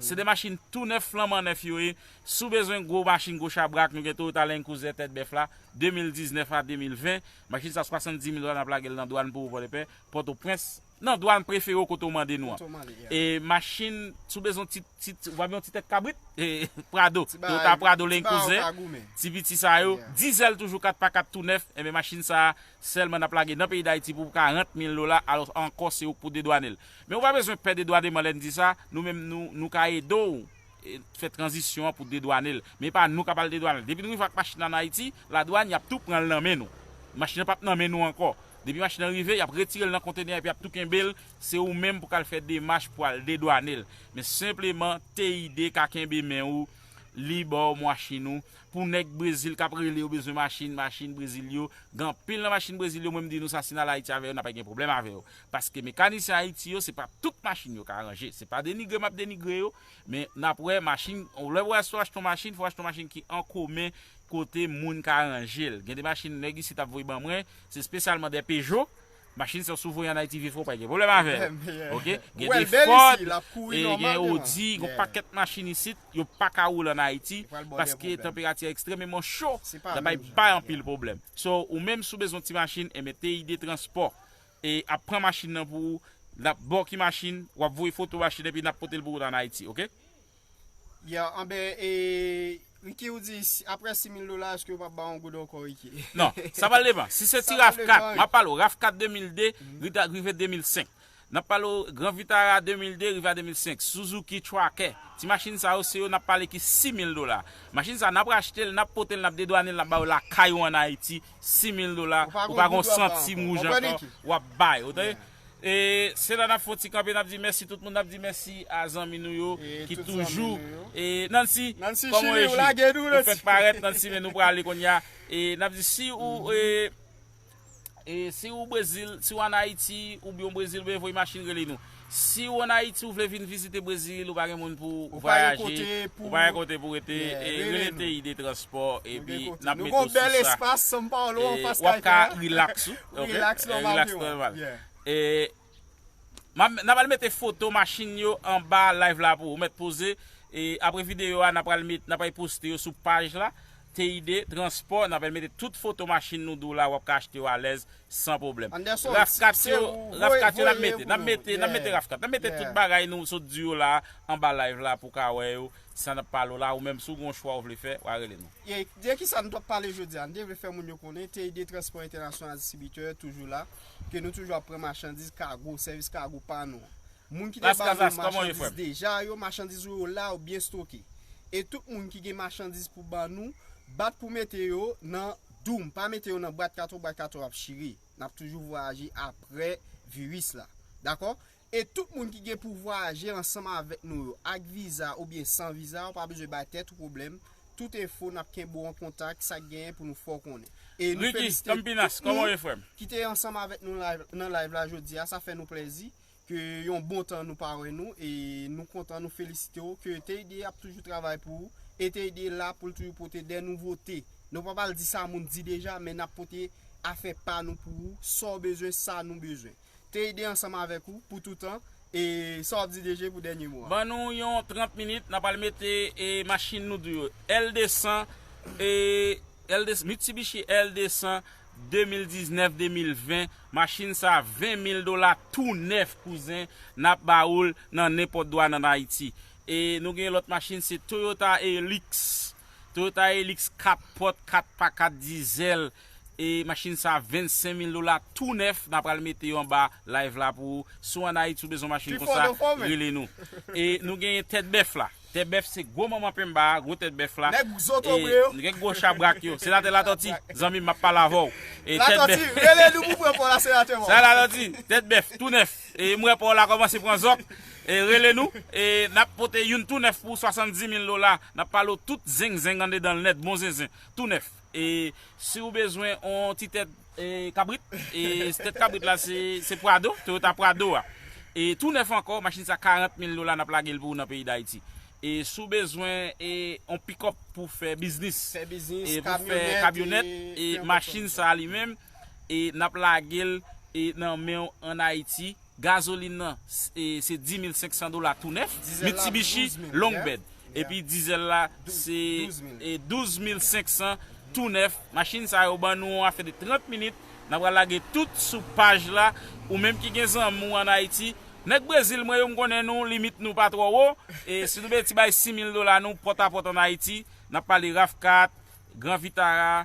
Se 2 machin tou nèf flanman nèf yo ye, si w bezwen gwo machin gwo chabrak nou gen Toyota Land Cruiser tèt bèf la, 2019 a 2020, machin sa 70 mil dola n ap lage l nan dwàn pou ou Pòdepè, Pòtoprens, nan dwàn prefere w kote w mande nou an. E machin, si w bezwen yon ti, ti, w ap gen yon ti tèt kabrit? Prado, Toyota Prado Land Cruiser, ti piti sa yo, dizèl toujou 4 pa 4 tou nèf, enben machin sa Sèlman nap lage nan peyi dayiti pou karant mil dola alos ankò se ou k pou dedwanel. Men ou pa bezwen pè dedwaneman lèn di sa, nou menm nou nou ka ede w fè tranzisyon an pou dedwanel. Men e pa nou kap al dedwanel. Depi nou rive ak machin nan an Ayiti, ladwann yap tou pranl nan men nou. Machin nan pap nan men nou ankò. Depi machin nan rive, yap retirel nan kontenè epi yap tou kenbel, se ou menm pou kal fè demach pou al dedwanel. Men senpleman TID ka kenbe men ou li baw mwachin ou Pou nèg brezil kap rele yo bezwen machin machin brezil yo gen anpil nan machin brezil yo mwen m di nou sa si n al ayiti avè yo n ap gen pwoblèm avè yo paske mekanisyen ayiti yo se pa tout machin yo ka ranje se pa denigre m ap denigre yo men n ap wè machin lè ou achte yon machin fò w achte yon machin ki an komen kote moun ka ranje l gen de machin nèg isit ap voye ban mwen se spesyalman dè pejo Machin sa sou voye an Ayiti vye fò ou pa gen pwoblèm avè l. Ok. Gen de Ford, gen Audi, gen yon pakèt machin isit yo pa ka woule an Ayiti paske tanperati a ekstrèmeman cho, l ap bay anpil pwoblèm. So, ou menm si w bezwen yon ti machin, enben TID Transport ap pran machin nan pou ou, l ap ba w ki machin, w ap voye foto machin epi n ap pote l pou ou an Ayiti. Ok. Yeah, anben e Ricky ou di aprè 6000 dola eske yo pap ba yon goud ankò Ricky? Non, sa pral devan. Si se ti Raf 4, map pale w Raf 4 2002 rive 2005. Nap pale w Gran Vitara 2002 rive a 2005, Suzuki Tracker, ti machin sa yo se yo nap pale ki 6000 dola. Machin sa nap rachte l, nap pote l, nap dedwane l, nap ba yo lakay ou an Ayiti, 6000 dola, ou pa gon santim wouj ankò, wap bay, ou tande? E se la nap fon ti kanpe nap di mèsi tout moun nap di mèsi a zanmi nou yo ki toujou e Nancy kòman ou ye chri ou fèk parèt Nancy men nou prale konnya e nap di si ou e si ou brezil si ou an ayiti ou byen ou brezil ou byen voye machin rele nou si ou an ayiti ou vle vin vizite brezil ou pa gen moun pou vwayaje ou pa gen kote pou rete e rele TID transport epi nap mete ou sou sa e wap ka relax ou. Relax normal te wè. E Nan pral mete foto machin yo anba live la pou ou mèt poze e apre video a nan pral mete nan pral poste yo sou paj la TID transport nan pral mete tout foto machin nou di w la wap ka achte yo alèz san pwoblèm. Anderson Raf kat yo Raf kat yo nap mete nap mete nap mete Raf kat nap mete tout bagay nou sot di yo la anba live la pou w ka wè yo sa nap pale w la ou menm si w gen yon chwa ou vle fè wa rele nou. De ki sa nou t ap pale jodi a? Nou te vle fè moun yo konnen TID Transport International Distributeur toujou la, ke nou toujou ap pran machandiz kago, sèvis kago pa nou an. Moun ki te ba nou machandiz deja yo, machandiz ou yo la, yo byen stoke. E tout moun ki gen machandiz pou ba nou, bat pou mete yo nan doum, pa mete yo nan bwat katon, bwat katon ap chire. N ap toujou vwayaje apre viris la. Dakò? E tout moun ki gen pou vwayaje ansanm avèk nou yo, ak viza oubyen san viza, ou pa bezwen bay tèt ou pwoblèm, tout enfo nap kenbe w an kontak, sak genyen pou nou fè w konnen. E nou felisite tout moun ki te ansanm avèk nou nan live la jodi a, sa fè nou plèzi ke yon bon tan nou pa wè nou e nou kontan nou felisite w ke TID ap toujou travay pou ou e TID la pou l toujou pote dè nouvote. Nou pa pral di sa moun di deja men nap pote afè pa nou pou ou, sa w bezwen, sa nou bezwen. Te ede ansanm avèk ou pou toutan e sa wap di DG pou dènye mo a. Ban nou yon 30 minit nap al mete e machine nou di yo L 200 e L 200 Mitsubishi L 200 2019 2020 machine sa 20 mil dola tou nèf kouzen nap ba oul nan nenpòt dwàn an Ayiti e nou gen yon lòt machine se Toyota Helix Toyota Helix 4 pòt 4 pa 4 dizèl E machine sa 25 mil dola tou nèf na pral mete yo anba live la pou ou si w an ayiti w bezwen machine konsa rele nou e nou genyen tèt bèf la tèt bèf se gwo manman penmba a gwo tèt bèf la e gwo chabrak yo senatè latòti zanmi m map pale avè w e tèt bèf sa latòti tèt bèf tou nèf e m wè pa w la kòmanse pran zòk e rele nou e nap pote youn tou nèf pou w 70 mil dola nap pale w tout zengzeng andedan l nèt bon zenzen tou nèf. e si ou bezwen on ti tèt kabrit e tèt kabrit la se prado toyota prado a e tou nèf ankò machin sa 40 mil dola nap lagel pou ou nan peyi dayiti e si ou bezwen on pikòp pou fè biznis e pou fè kamyonèt e machin sa li menm e nap lagel nan menw an ayiti. Gazolin nan se 10500 dola tou nèf, Mitsubishi long bed. Epi dizèl la se 12500 tou nèf. Machin sa yo ban nou yon afè de 30 minit, n a pral lage tout sou paj la. Ou menm ki gen zanmi w an Ayiti, nèg Brezil mwen yo m konnen nou limit nou pa twò wo. Si nou mete ti bay 6000 dola nou pòtapòt an Ayiti, n ap pale Rav4, Gran Vitara,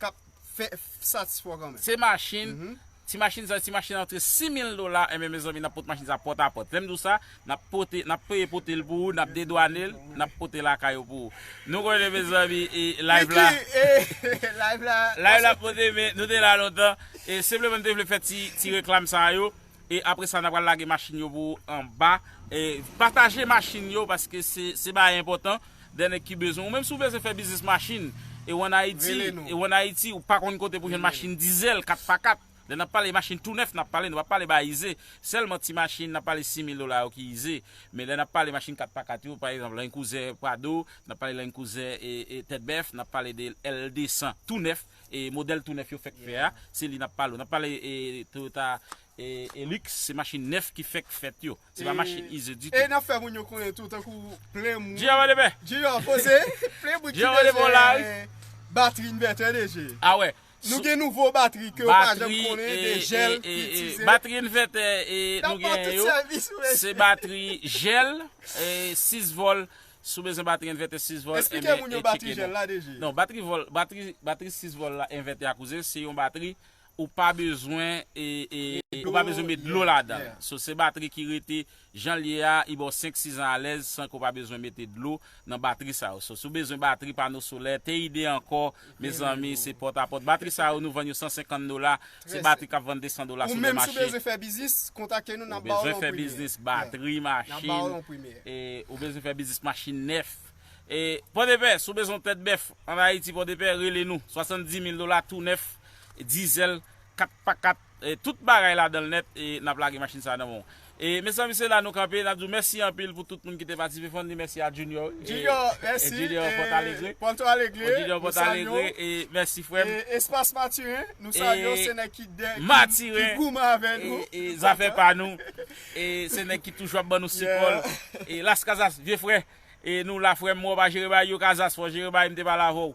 kap fè satisfè w kanmèm. Se machin, ti machin sa yo, ti machin antre 6000 dola, enben mezanmi nap pot machin sa pòt a pòt. Lèm di w sa, nap pote, nap peye pote l pou ou, nap dedwane l, nap pote lakay ou pou ou. Nou konnen mezanmi e live la, live la ap monte men nou te la lontan e senpleman nou te vle fè ti reklam sa yo. E apre sa na pral lage machin yo pou anba. E pataje machin yo paske se bagay enpotan. Dè nèg ki bezwen. Ou menm si ou bezwen fè biznis machin e ou an Ayiti. Rele nou. E ou an Ayiti ou pa konn kote pou jwenn machin dizèl 4 pa 4. Lè nap pale machin tou nèf nap pale nou pa pale bagay ize. Sèlman ti machin nap pale 6000 dola yo ki ize. Men lè nap pale machin 4 pa 4 yo pa egzanp Land Cruiser Prado, nap pale Land Cruiser e tèt bèf, nap pale de L 200 tou nèf. E modèl tou nèf yo fèk fè a, se li n ap pale. N ap pale Toyota Hilux, se machin nèf ki fèk fèt yo. Se pa machin ize ditou. E n ap fè moun yo konnen tou, tankou plen moun. Jiyò wè demen! Jiyò poze! Plen moun ki bezwen batri invètè de je. A wè! Nou gen nouvo batri ke ou pa janm konnen de jèl ki itize. Batri invètè nou gen yo, se batri jèl, 6 vòl. Si w bezwen batri envètè 6 vòl, Esplike moun yo batri jèl la DG. Non, batri vòl, batri, batri 6 vòl la envètè a kouzen, se yon batri ou pa bezwen e, e, ou pa bezwen met dlo ladan l. So, se batri ki rete jan l ye a, li ba w 5, 6 an alèz san ke w pa bezwen mete dlo nan batri sa yo. So, si w bezwen batri pano solè, TID ankò, Mezanmi se pòt a pòt. Batri sa yo nou vann yo 150 dola, se batri kap vann 200 dola sou le mache. Ou menm si w bezwen fè biznis, kontakte nou nap ba w l an premye. Ou bezwen fè biznis, batri, machin. Nap ba w l an premye. Ou bezwen fè biznis machin nèf. Pòdepè, si w bezwen yon tèt bèf an Ayiti, Pòdepè, rele nou. 70 mil dola tou nèf, dizèl, 4x4. Tout bagay ladan l nèt e n ap lage machin sa a nan men w. E mezanmi se la nou kanpe, n ap di w mèsi anpil pou tout moun ki te patisipe. Fò n di mèsi a Junior wi. Junior, mèsi. Junior Pòtalegre. Pòtalegre, nou salye w. Junior Pòtalegre, e mèsi frè m. E Espas Matiren, nou salye w. Se nèg ki goumen avè nou. E zafè pa nou. E se nèg ki toujou ap ban nou sipò l. E Las Casas, vye frè. E nou la frè m, wè w pa jere bagay yo Casas, fò w jere bagay m te pale avè w.